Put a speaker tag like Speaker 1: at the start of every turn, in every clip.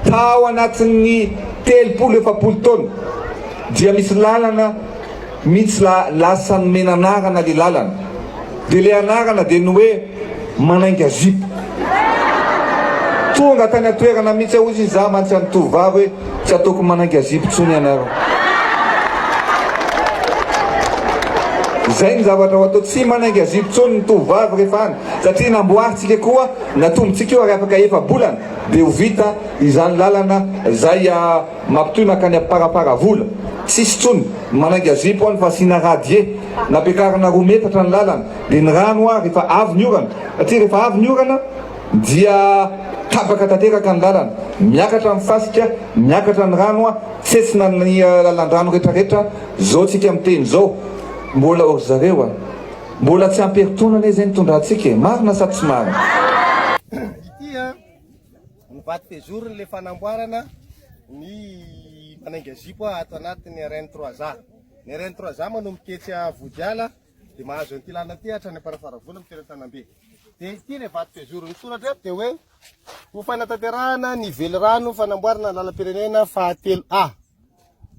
Speaker 1: Fa ao anatin'ny telopolo efapolo taona dia misy lalana mitsy la lasa nomena anarana le lalana de le anarana de ny hoe manainga zipo tonga tany atoerana mitsy aho izy za mantsy any tovovavy hoe tsy ataoko manainga zipo tsony ianareo zay ny zavatra ho atao tsy manainga zipo tsony ny tovovavy rehefa any satria namboaritsika koa natombotsika io ary afaka efa bolana Dia ho vita izany lalana izay mampitohy mankany Amparaparavola. Tsisy intsony manainga zipo any fa asiana radie. Nampiakarina roa metatra ny lalana. Dia ny rano ho'a rehefa avy ny orana. Satria rehefa avy ny orana dia tapaka tanteraka ny lalana. Miakatra ny fasika, miakatra ny rano, tsetsina ny lalan-drano rehetra rehetra. Zao tsika miteny zao. Mbola ho ry zareo a. Mbola tsy ampy herintaona anie izay ny tondrahantsika e. Marina sa tsy marina?
Speaker 2: Tia ny vato pezoriny le fanamboarana ny manainga zipo ato anatin'ny RN 3 A. Ny RN 3 A manomboka etsy Vodiala dia mahazo an'ity lalana ity hatrany Amparafaravola amin'ny toerana Tanambe. Dia ity le vato pezoro ny soratra eto dia hoe ho fanatanterahana ny velirano fanamboarana lalam-pirenena fahatelo A.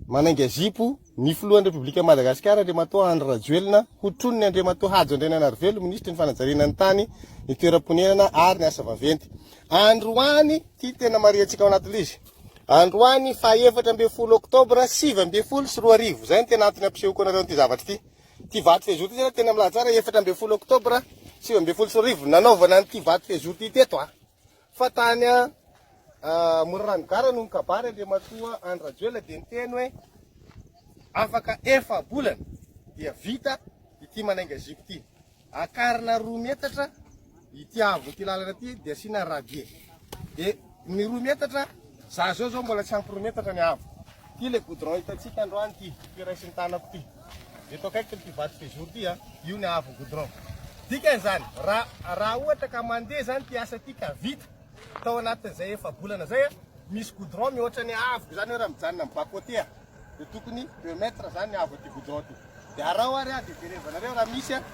Speaker 2: Manainga zipo ny filohan'ny Repoblikan'i Madagasikara, Andriamatoa Andry Rajoelina, ho tronon'i Andriamatoa Hajo Andriananarivelo, Minisitry ny Fanajariana ny Tany, ny Toeram-ponenana ary ny Asa Vaventy. Androany, ity tena marihantsika ao anatin'ilay izy, androany fahaefatra ambin'ny folo oktobra sivy ambin'ny folo sy roa arivo, izay no tena antony hampisehoako anareo an'ity zavatra ity. Ity vato fehezoro ity izany tena milaza tsara, efatra ambin'ny folo oktobra sivy ambin'ny folo sy roa arivo, nanaovana an'ity vato fehezoro ity teto. Fa tany a Morarano Gara no nikabary Andriamatoa Andry Rajoelina dia niteny hoe afaka efa-bolana dia vita ity manainga zipo ity. Akarina roa metatra ity haavon'ity lalana ity dia asiana radier. Dia ny roa metatra, za zao zao mbola tsy ampy roa metatra ny haavo. Ity ilay goudron hitantsika androany ity, ity raisin'ny tanako ity. Eto akaiky ity vato séjour ity a, io ny haavon'ny goudron. Dikany izany, raha raha ohatra ka mandeha izany ity asa ity ka vita tao anatin'izay efa-bolana izay a, misy goudron mihoatra ny haavoko izany hoe raha mijanona amin'ny bas côté a, dia tokony deux mètres izany ny haavon'ity goudron ity. Dia araho ary aho dia jerevanareo raha misy a.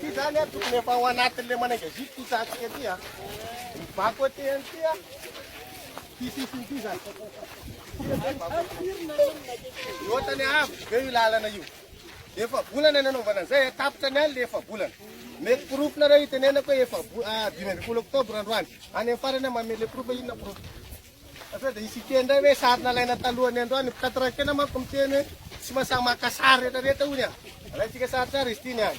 Speaker 2: Ity zany a tokony efa ao anatin'ilay manengaziky ity tsatsika ity a. Ny bako aty ihany ity a. Ity sisiny ity zany. Ny otany avo be io lalana io. Efa volana nanaovana an'izay, tapitra ny alina efa volana. Mety porofo nareo itenenako hoe efa dimy ambin'ny folo oktobra androany. Any amin'ny farany mamele porofo inona porofo. Sao dia hisy hiteny indray hoe sary nalaina talohan'ny androany. Ny mpitantara ny fiainana manko miteny hoe tsy mahasahy maka sary rehetrarehetra hoy ny ahy. Alaintsika saritsary izy ity ny ahy.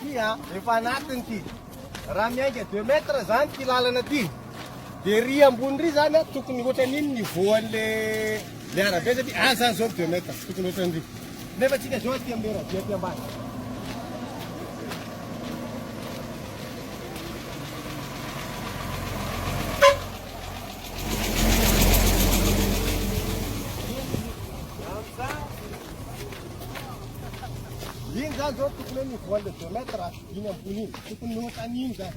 Speaker 2: Ty a, efa anatiny ty. Raha miainga deux mètres zany ty lalana ty. Dia ry ambony ry zany a, tokony hoatrany iny niveau an'le le arabe satria aza aza zao deux mètres, tokony hoatrany ry. Nefa tsika zao aty am'le radio aty ambany. Iny zany zao tokony hoe niveau an'le deux mètres iny ambony iny, tokony hoatrany iny zany.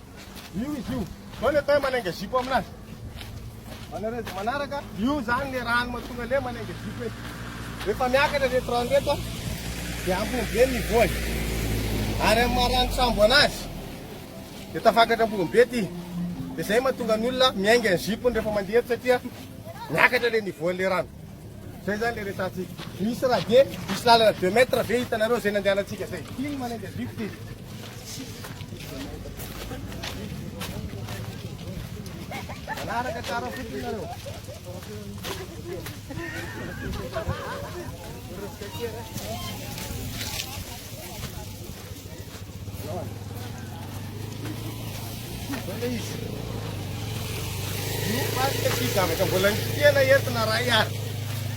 Speaker 2: Io izy io. Zao le tay manainga zipo aminazy. Manaredy manaraka. Io zany le rano matonga le manainga zipo e. Rehefa miakatra reto rano reto dia ampony be ny voany. Ary amin'ny maha-rano sambo anazy dia tafakatra ampony be ty. Dia zay matonga ny olona miainga ny zipony rehefa mandeha eto satria miakatra le ny voan'le rano. Zay zany le resahantsika. Misy radier, misy lalana deux mètres ve hitanareo zay nandehanantsika zay. Iny manendy avivotra iny. Manaraka tsara fotsiny nareo. zavatra mbola ny tena entina ray ary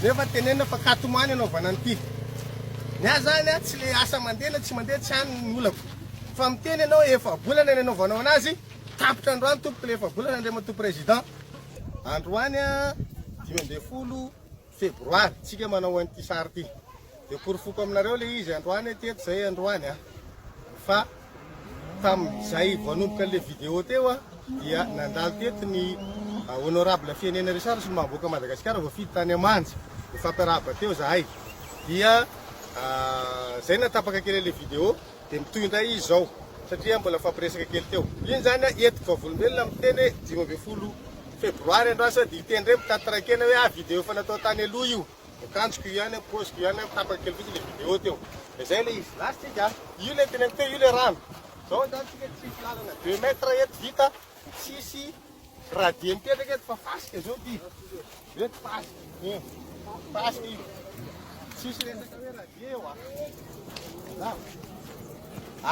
Speaker 2: nefa tenenina fa katomany anaovana an'ity ny ahy zany a tsy le asa mandeha na tsy mandeha tsy any ny olako fa miteny ianao efa bolana ny anaovanao anazy tapitra androany tompoko le efa bolana andriamatoa président androany a dimy ambin'ny folo Febroary tsika manao an'ity sary ity de porofoko aminareo ilay izy androany aty eto zay androany a fa tamin'izay vao hanomboka an'ilay vidéo teo a dia nandalo teto ny honorable Fiainena Richard sy ny maha-boaka Madagasikara voafidy tany Amanja nifampirahaba teo zahay dia zay nahatapaka kely an'ilay vidéo Dia mitohy indray izy izao satria mbola nifampiresaka kely teo. Iny izany an, etoky vavolombelona miteny hoe dimy ambin'ny folo febroary andro asa dia hiteny indray mitady taraikena hoe ah video efa natao tany aloha io. Akanjoko io ihany an, paoziko io ihany an, tapaka kely fotsiny ilay video teo. Dia izay ilay izy. Last week an. Io ilay teneniko teo, io ilay rano. Izao izany isika tsisy lalana deux mètres eto vita, tsisy. Raha dia mipetraka eto fa fasika zao ty. Eto fasika. Eh. Fasika io. Tsisy resaka hoe raha dia eo ah. Na.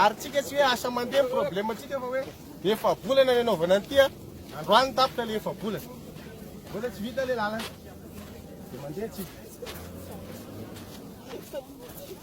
Speaker 2: Ary tsika tsy hoe asa mandeha ny problème tsika fa hoe efa volana ny anaovana an'ity ah. Androany tapitra le efa volana. Mbola tsy vita le lalana. Dia mandeha tsika.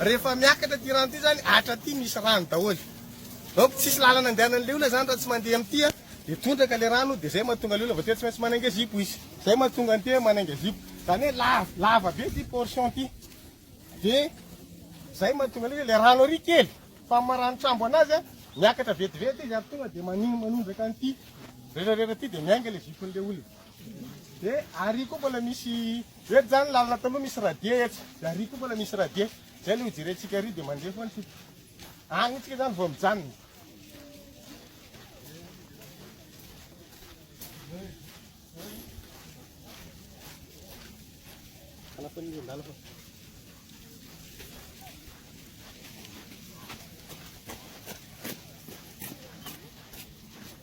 Speaker 2: Rehefa miakatra ity rano ity zany atra aty misy rano daholo donc tsisy lalana andehanany le olona zany raha tsy mandeha amty a de tondraka le rano de zay mahatonga le olona vao tena tsy maintsy manainga zipo izy zay mahatonga ny tena manainga zipo zany hoe lava lava be ty portion ty de zay mahatonga le le rano ary kely fa maranotrambo anazy a miakatra vetivety izy ary tonga de maniny manondraka anty rerarera ty de miainga le zipon'le olona Dia ary koa mbola misy, eto izany lalana taloha misy radier eto, dia ary koa mbola misy radier, izay ilay hojerentsika ary dia mandeha foana isika. Any isika izany vao mijanona.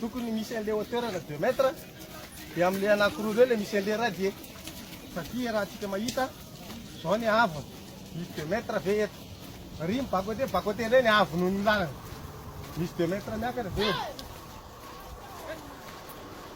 Speaker 2: Tokony misy an'le hauteur na deux mètre de amle anakiroa reo le misy an'le radier fa ty raha tsika mahita zao ny haavony misy deux mètre ve eto ry ny bas côté bas côté indray ny haavony noho ny lalana misy deux mètre miakatra ve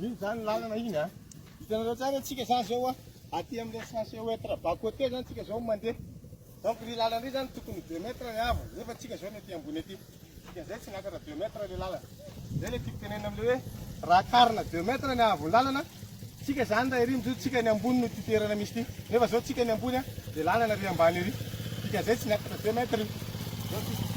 Speaker 2: Iny zany lalana iny a. Hitanareo tsara tsika zany zao a. Aty amin'ny sensé ouetre bas côté zany tsika zao mandeha. Donc ny lalana iny zany tokony 2 mètres ny avo nefa tsika zao ny aty ambony aty. Dikan'izay tsy niakatra 2 mètres le lalana. Zay le tiako tenenina amle hoe raha karina deux mètres ny ahavon'ny lalana tsika zany raha ery mijoro tsika ny ambony no ty toerana misy ty nefa zao tsika ny ambony a de lalana ry ambany ery dikan'izay tsy niakatra deux mètres io zao tsika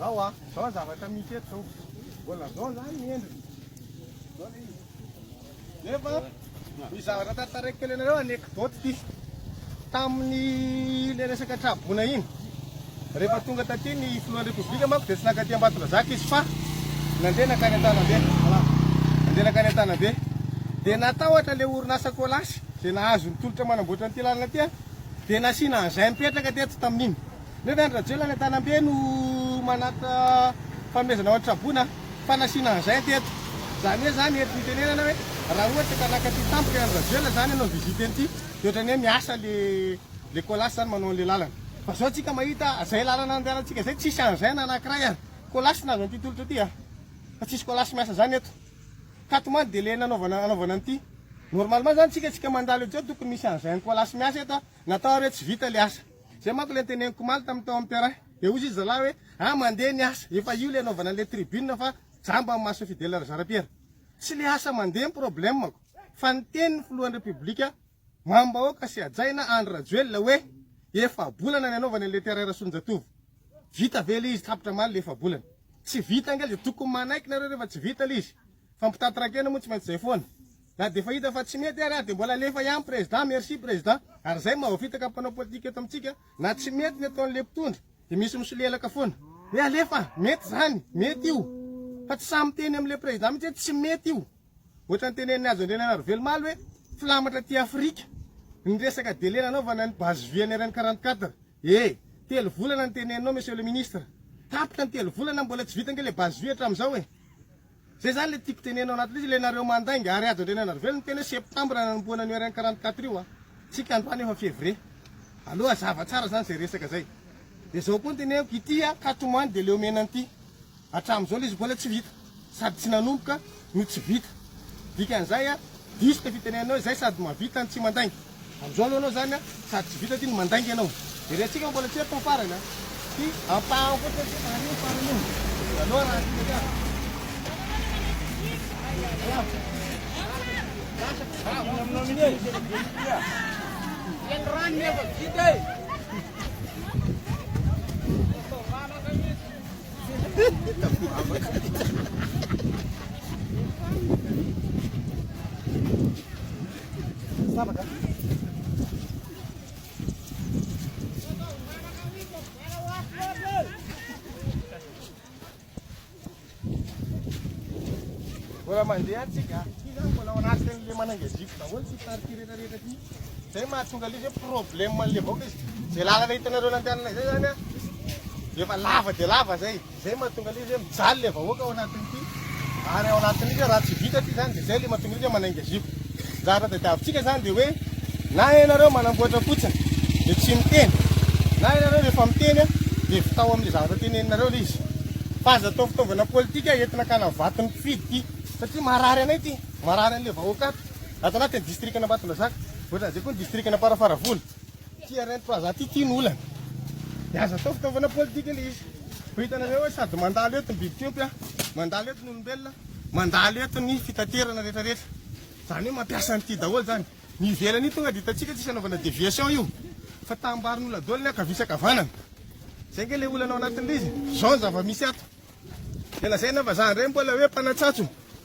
Speaker 2: Zao ah, zao zavatra misy eto zao. Mbola zao zany ny endriny. Zao le izy. Nefa ny zavatra tantaraiko kely anareo anecdote ity. Tamin'ny ilay resaka traboina iny, rehefa tonga taty ny filohan'ny Repoblika manko dia tsy naka aty Ambatondrazaka izy fa nandeha nankany Antanabe. Nandeha nankany Antanabe. Dia natahotra ilay orinasa Colas izay nahazo ny tolotra manamboatra an'ity lalana ity dia nasiana an'izay mipetraka teto tamin'iny. Ndrey ve an-dRajoelina any Antanambe no manatona fanomezana ho an'i Traboina fa nasiana engins teto? Zany hoe zany eto itenenana hoe raha ohatra ka naka ty tampoka i an-dRajoelina zany hanao visite an'ity de ohatrany hoe miasa le le colas zany manao an'le lalana. Fa zao tsika mahita zay lalana andehanantsika zay tsisy engins na anakiray an! Colas nahazo an'ity tolotra ty an! Fa tsisy colas miasa zany eto. Tato man de le nanaovana hanaovana an'ity. Normalement zany tsika tsika mandalo ejeo tokony misy engins colas miasa eto an! Natao ary hoe tsy vita le asa. Zay manko le niteneniko omaly tamin'ny tao amin'ny terrain. Dia hoy izy zalahy hoe, ah mandeha ny asa, efa io le anaovana an'ilay tribune fa jamba amin'ny mason'i Fidèle Razarapiera. Tsy le asa mandeha ny problemako, fa ny tenin'ny filohan'ny Repoblika mambahôka sy hajaina Andry Rajoelina hoe, efa-bolana ny anaovany an'ilay terrain Rasoanijatovo. Vita ve le izy tapitra omaly le efa-bolana? Tsy vita ange le tokony manaiky nareo rehefa tsy vita le izy, fa mpitanty rakena moa tsy maintsy zay foana. Na dia efa hita fa tsy mety ary dia mbola alefa ihany président merci président ary zay mahavitaka mpanao politika eto amintsika na tsy mety ny ataon'le mpitondra dia misy misolelaka foana hoe alefa mety zany mety io fa tsy sahy miteny amle président mitsy hoe tsy mety io ohatrany tenenin'i hajo andriananarovelomaly hoe filamatra aty afrika ny resaka délai nanaovana ny base vie an'ireny 44 eh telo volana ny teneninao monsieur le ministre tapitra ny telo volana mbola tsy vita ange le base vie hatramin'izao eh Zay zany le tiako teneno anaty lisy le nareo mandainga ary ajo andriana narivelo niteny hoe septembre nanombohana ny rnk quarante quatre io a tsika androany efa fevrie aleo azava tsara zany zay resaka zay de zao koa ny teneniko ity a katomany de leo mena anty atramizao lisy bola tsy vita sady tsy nanomboka no tsy vita dikan'izay a diso le fitenenanao izay sady mavita ny tsy mandainga Amin'izao aloha ianao izany sady tsy vita ity no mandainga ianao. Very antsika fa mbola tsy eto ny farany an! Ity ampahany fotsiny ity fa anie ny farany io! Milalao raha tiana ka! Mbola mandeha antsika. Iza mbola ao anatin'ilay manangazify daholo sy tarika rehetra rehetra ity. Izay mahatonga ilay hoe problème an'ilay vahoaka izy. Izay lalana hitanareo nandehanana izay zany a, efa lava dia lava izay. Izay mahatonga ilay izy hoe mijaly ilay vahoaka ao anatin'ity ary ao anatin'io dia raha tsy vita ity izany dia izay ilay mahatonga izy hoe manainga zipo. Anjara tadiavintsika izany dia hoe na ianareo manamboatra fotsiny dia tsy miteny, na ianareo rehefa miteny dia vitao amin'ilay zavatra teneninareo ilay izy. Fa aza atao fitaovana politika entina hakana vaton'ny mpifidy ity satria marary anay ity, marary an'ilay vahoaka ato, ato anatin'ny distrikan'Ambatondrazaka, ohatran'izay koa ny distrikan'Amparafaravola. Ity harem plaza ty ity no olana. Dia aza atao fitaovana politika ilay izy. Fa hitanareo hoe sady mandalo eto ny biby fiompy a, mandalo eto ny olombelona, mandalo eto ny fitaterana rehetra rehetra. Izany hoe mampiasa an'ity daholo izany. Ny ivelany io tonga dia hitantsika tsisy anaovana deviation io. Fa taham-barin'olona daholo ny ankavia sy ankavanana. Izay ange ilay olana ao anatin'ilay izy. Izao ny zava-misy ato. Dia lazaina vazaha indray mbola hoe mpanatsatso.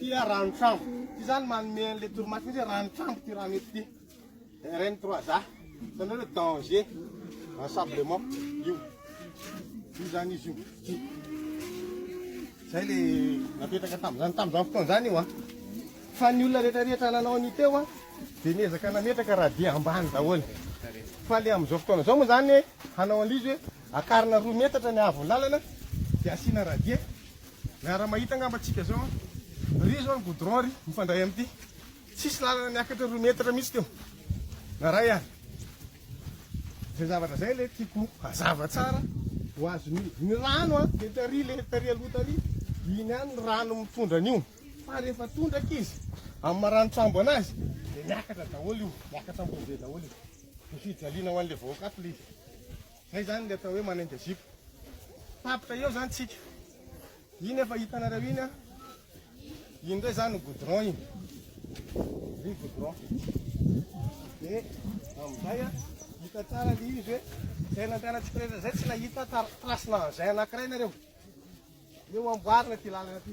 Speaker 2: Ity a rano trambo. Ity zany manome an'ilay torimaso mihitsy hoe rano trambo ity rano eto ity. RN 3 za. Zany hoe danger ensablement io. Io zany izy io. Ity. Zay le napetraka tamin'izany tamin'izany fotoana zany io a. Fa ny olona rehetra rehetra nanao ny teo a dia niezaka nametraka radier ambany daholo. Fa le amin'izao fotoana izao moa zany hanao an'izy hoe akarina roa metatra ny haavon'ny lalana dia asiana radier Miara-mahita angamba tsika zao an! Ry zao ny goudron ry, mifandray amin'ity. Tsisy lalana niakatra roa metatra mihitsy teo. Na iray ary. Zay zavatra zay le tiako hazava tsara ho azon'ny. Ny rano an, dia tary le, tary aloha tary, iny ihany ny rano mitondra an'io. Fa rehefa tondraka izy, amin'ny marani-tsambo anazy, dia miakatra daholo io, miakatra ambony be daholo io. Dia fijaliana ho an'ilay vahoaka ato le izy. Zay zany le atao hoe manainga zipo. Tapitra eo zany tsika. Iny efa hitanareo iny an. Iny ndray zany ny goudron iny. Ny goudron. Dia amin'izay an, hita tsara le izy hoe zay nandehanantsika rehetra zay tsy nahita trace-na engin anakiray nareo. Eo amboarina ty lalana ty.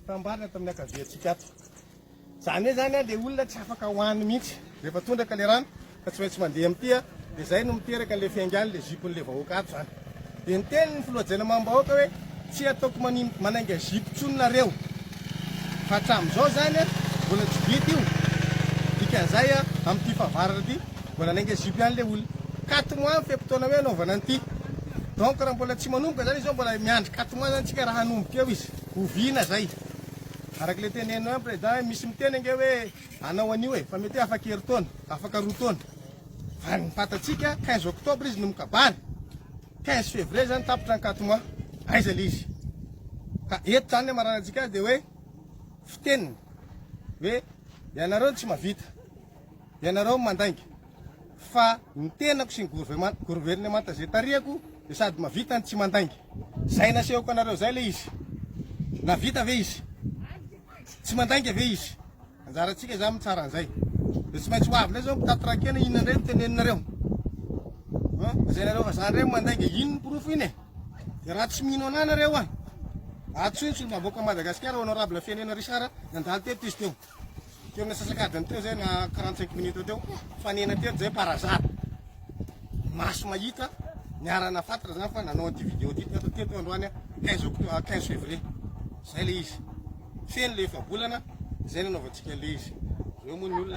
Speaker 2: Fitambarana tamin'ny ankaviantsika ato. Izany hoe izany ilay olona tsy afaka hoany mihitsy. Rehefa tondraka ilay rano ka tsy maintsy mandeha amin'ity, dia izay no miteraka ilay fiaingàny ilay zipon'ilay vahoaka ato izany. Dia niteny ny filoha Jainamam-bahoaka hoe tsy hataoko manainga zipo intsony nareo. Fa hatramin'izao izany mbola tsy vita io. Dikan'izay amin'ity fahavaratra ity mbola hanainga zipo ihany ilay olona. Katmo any fe-potoana hoe hanaovana an'ity. Donc raha mbola tsy manomboka izany izao mbola miandry katmo any izany isika raha hanomboka eo izy. Oviana zay? Araka le teneno an president misy miteny ange hoe anao anio e fa mety hoe afaka herintaona, afaka roa taona. Ary ny fantatsika quinze octobre izy no mikabary. Quinze fevrier zany tapitra ny quatre mois. Aiza le izy? Ka eto zany ny amaranantsika azy de hoe fiteniny hoe ianareo no tsy mahavita. Ianareo mandainga fa ny tenako sy ny governemanta izay tarihako dia sady mavita no tsy mandainga. Izay nasehoko anareo izay ilay izy. Navita ve izy? Tsy mandainga ve izy? Anjarantsika izany mitsara an'izay. Dia tsy maintsy ho avy indray izao mpitaty rakena inona indray no teneninareo. Lazainareo fa izany indray mandainga inona ny porofo iny e? Dia raha tsy mino anà nareo an. Antsointsy ny vahoaka Madagasikara honorable Fiainena Richard nandalo teto izy teo. Teo amin'ny asasakadiny teo izay na 45 minutes teo, fanena teto izay par hasard. Maso mahita, niarana fatra izany fa nanao an'ity vidéo ity teto teto androany 15 octobre 15 février. Izay ilay izy. Feno ilay efa-bolana, izay nanaovantsika an'ilay izy. Ireo moa ny olona.